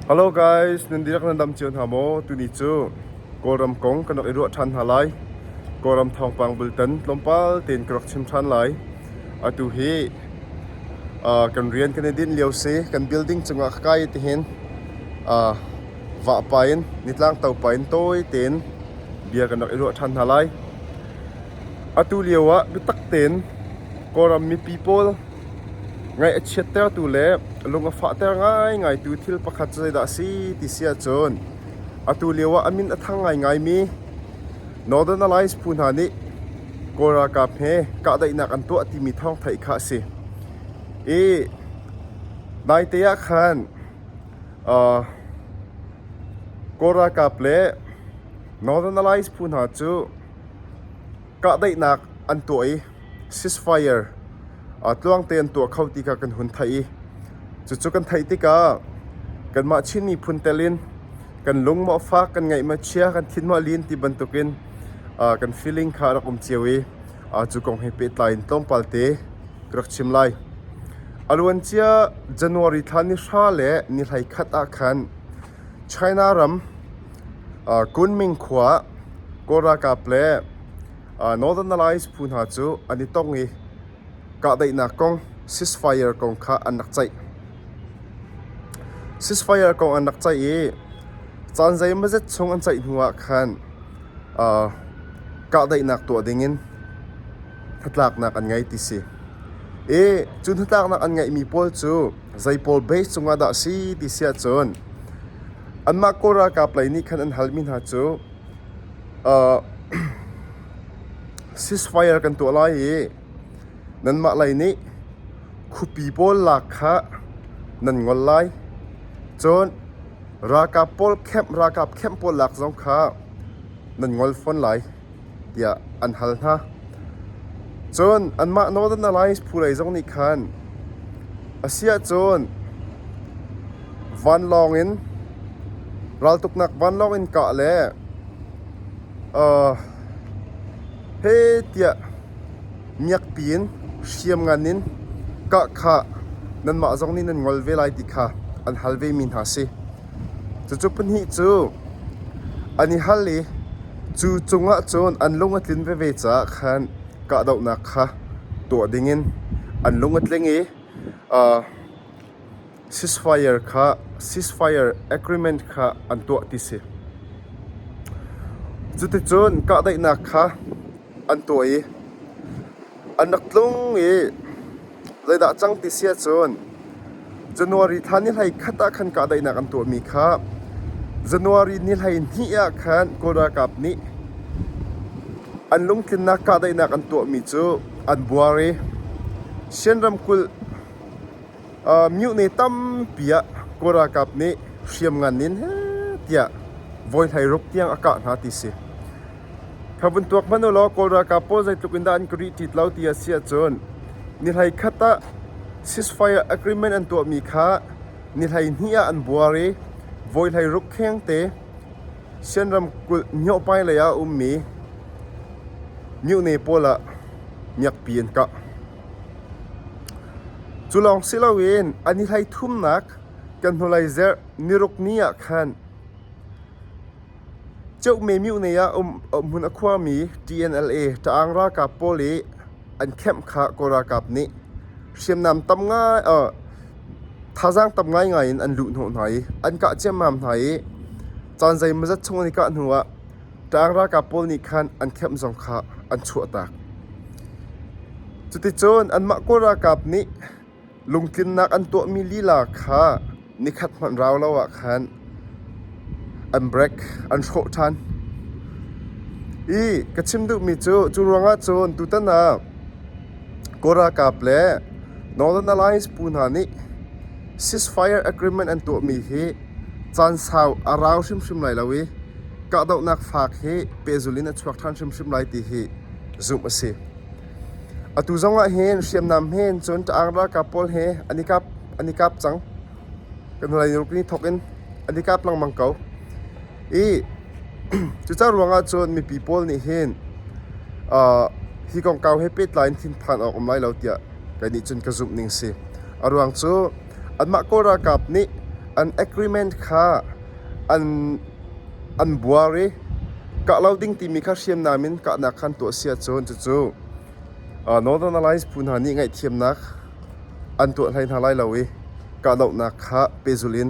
Hello guys, nan dihlak nan dam cio hna maw? Tuni cu Kawlram kong kan rak i ruah ṭhan hna lai. Kawlram thawngpang bultan tlawmpal tein ka rak chim ṭhan lai. Atu hi uh, kan rian kan i dinh lio si. Kan building cungah ka kai ti hin uh, vahpa in nitlang topa in tawi tein bia kan rak i ruah ṭhan hna lai. Atu lioah biatak tein Kawlram mipi pawl ngaih a chiattertu le lung a fahter ngaingaitu thil pakhat cu zeidah a si ti si ahcun atu lioah a min a thang ngaingaimi Northern Alliance phu hna nih Kawl ralkap he kahdaihnak an tuah timi thawngtheih kha a si. I naite ah khan Kawl ralkap le Northern Alliance phu hna cu Kahdaihnak an tuah i ceasefire tluang te an tuah kho ti kha kan hun theih i cucu kan theih tikah kanmah Chin miphun telin kan lungmawh fak kan ngaihmah chia kan thinmawh lin ti bantukin kan feeling kha a rak um cio i cu kong he pehtlai in tlawmpal te ka rak chim lai. A luancia January thla ni hra le ni hlei khat ah khan China ram Kunming khua ah Kawl ralkap le Northernalize phu hna cu an i tong i kahdaihnak kong ceasefire kong kha an rak ceih. Ceasefire kong an rak ceih i caan zeimazet chung an ceih hnu ah khan kahdaihnak tuah dingin hnatlaknak an ngei ti si. I cu hnatlaknak an ngeihmi pawl cu Zei pawl base cungah dah a si ti si ahcun anmah Kawl ralkap lei nih khan an halmi hna cu uh, ceasefire kan tuah lai i nanmah lei nih khupi pawl lak kha nan ngol lai. Cun ralkap pawl camp ralkap camp pawl lak zong kha nan ngol fawn lai. tiah an hal hna. Cun anmah Northern Alliance phu lei zong nih khan, asiahcun vanlawng in raltuknak vanlawng in kah le he tiah miakpi in hriam ngan in kahkhah nanmah zong nih nan ngol ve lai ti kha an hal vemi hna a si. Cucu pahnih cu an i hal i cu cungah cun an lung a tlin veve caah khan kahdohnak kha tuah dingin an lung a tling i ceasefire kha ceasefire agreement kha an tuah ti si. Cuticun kahdaihnak kha an tuah i an rak tlung i zeidah a cang ti si ahcun January thla ni hlei khat ah khan kahdaihnak an tuahmi kha January ni hleihnih ah khan Kawl ralkap nih an lungtlinnak kahdaihnak an tuahmi cu an buar i Shan ramkulh Myohne tampi ah Kawl ralkap nih hriamngan in heh tiah voihlei ruk tiang a kah hna ti si. Kha vun tuak hmanh ulaw Kawl ralkap pawl zeitluk in dah an ka rih ṭit lo ti a si ahcun ni hlei khat ah ceasefire agreement an tuahmi kha ni hlei hnih ah an buar i voihlei ruk khengte Sian ramkulh Myohpai lei ah a ummi Myohne pawl ah miakpi an kah. Cu lawng si loin an i hleithumnak kan hnulei zerh niruk ni ah khan Ceuhme Myone ah um hmun a khuami TNLA Ṭaang ralkap pawl i an khamh kha Kawl ralkap nih hriamnam tam ngai thazaang tam ngaingai in an luh hnawh hna i an kah ciammam hna i caan zeimawzat chung an i kah hnu ah Ṭang ralkap pawl nih khan an kheamh zong kha an chuahtak. Cuticun anmah kawl ralkap nih lungtlinnak an tuahmi lila kha nikhat hmanh rau lo ah khan an break, an hrawh ṭhan. I ka chim duhmi cu, cu ruangah cun tutan ah kawl ralkap le Northern Alliance phu hna nih ceasefire agreement an tuahmi hi Caan sau a rau hrimhrim lai lo i kahdohnak faak hi pehzul in a chuak ṭhan hrimhrim lai ti hi zumh a si. Atu zongah hin hriamnam hen cun ṭaang ralkap pawl he an i kap an i kap cang. Kan hnulei ni ruk ni thawk in an i kap lengmang ko. I cucaah ruangah cun mipi pawl nih hin uh, hi kongkau he pehtlai in thinphan awk um lai lo tiah kei nih cun ka zumh ning si. A ruang cu Anmah kawl ralkap nih an agreement kha an buar i kah lo ding timi kha hriamnam in kahnak kha an tuah a si ahcun cucu Northern Alliance phu hna nih ngaihthiamnak an tuah hlei hna lai lo i kahdohnak kha pehzul in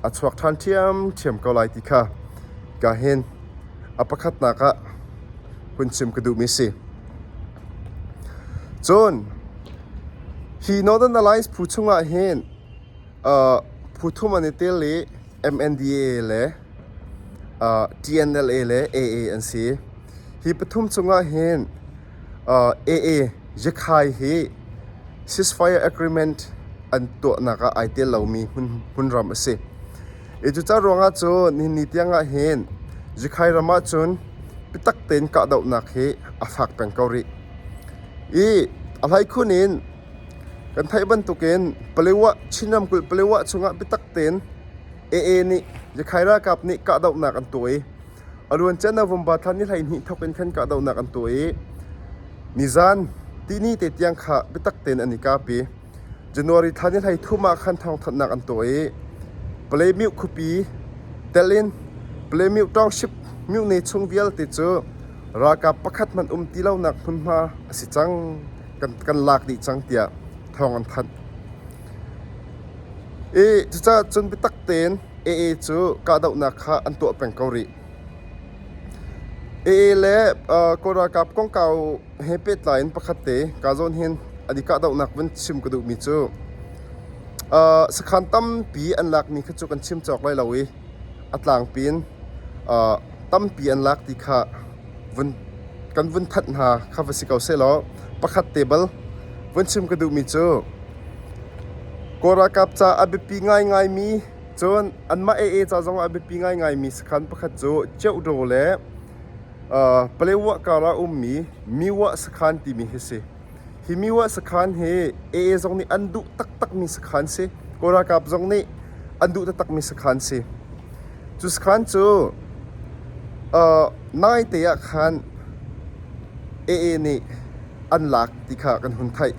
a chuak ṭhan ṭhiamṭhiam ko lai ti kha ka hin a pakhatnak ah hun chim ka duhmi a si. Cun hi Northern Alliance phu chungah hin uh, phu thum an i tel i MNDA le uh, TNLA le AA an si. Hi pathum cungah hin uh, AA Yakhai hi ceasefire agreement an tuahnak ah ai tel lomi hmun, hmunram a si. I cuca ruangah cu nihin tiang ah hin Zikhai ram ah cun biatak tein kahdohnak hi a fak peng ko rih. I a hleikhun in kan theih bantukin Paletwa Chin ramkulh Paletwa chungah biatak tein AA nih Zikhai ralkap nih kahdohnak an tuah i a ruan can ah Vomba thlan i hleihnih thok in khan kahdohnak an tuah i nizan tini te tiang kha biatak tein an i kapi. January thla ni hleithum ah khan thawngthanhnak an tuah i Palemioh khuapi telh in Palemioh township myone chung vialte cu ralkap pakhat hmanh um ti lonak hmunhma a si cang kan lak dih cang tiah thawng an thanh. I cucaah cun biatak tein AA cu kahdohnak kha an tuah peng ko rih. AA le uh, Kawl ralkap kongkau he pehtlai in pakhatte kaa zawn hen an i kahdohnak vun chim ka duhmi cu uh, sakhan tampi an lakmi kha cu kan chim cawk lai lo i a tlangpi in uh, tampi an lak ti kha vun kan vun thanh hna kha va si ko se law pakhat te bal vun chim ka duhmi cu Korakap ca a biapi ngai ngai mi cun anmah ee ca zong a biapi ngai ngai mi sakhan pakhat cu Cheudo le Palaewa kar ah a ummi Miwah sakhan timi hi a si. Hi Miwah sakhan hi AA zong nih an duh taktakmi sakhan si. Kawl ralkap zong nih an duh taktakmi sakhan si. Cu sakhan cu naite ah khan AA nih an lak ti kha kan hun theih.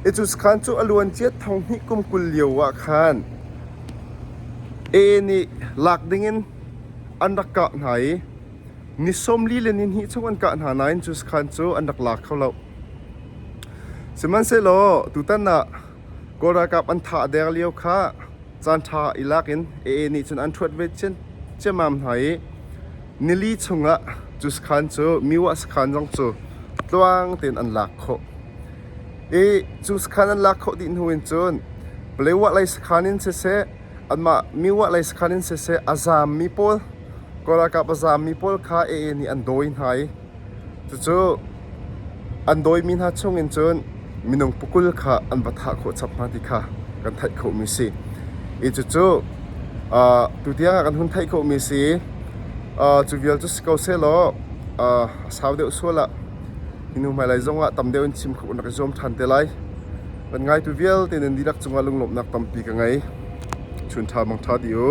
Hi cu sakhan cu a luancia thong hnih kum kul lio ah khan AA nih lak dingin an rak kah hna i ni sawmli le nihnih chung an kah hna nain cu sakhan cu an rak la kho loh. Sihmanhsehlaw tutan ah Kawl ralkap an thah deng lio kha caanṭha i lak in AA nih cun an ṭhuat ve ciammam hna i nili chungah cu sakhan cu Miwah sakhan zong cu tluang tein an lak khawh. I cu sakhan an lak khawh dih hnu in cun Paletwah lei sakhan in siseh anmah mi-uahlei sakhan in siseh a zaammi pawl Kawl ralkap a zaammi pawl kha AA nih an dawi hna i cucu an dawimi hna chungin cun minung pukul kha an va thah khawh chap hna ti kha kan theih khawhmi si. I cucu uh, tutiang ah kan hun theih khawhmi si uh, cu vial cu si ko sehlaw uh, a sau deuh sual ah hinu hmailei zongah tam deuh in chim khawh nak i zuam ṭhan te lai. Kan ngaitu vialte nen dihlak cungah lunglawmhnak tampi ka ngei. Chun ṭha mang ṭha dih u.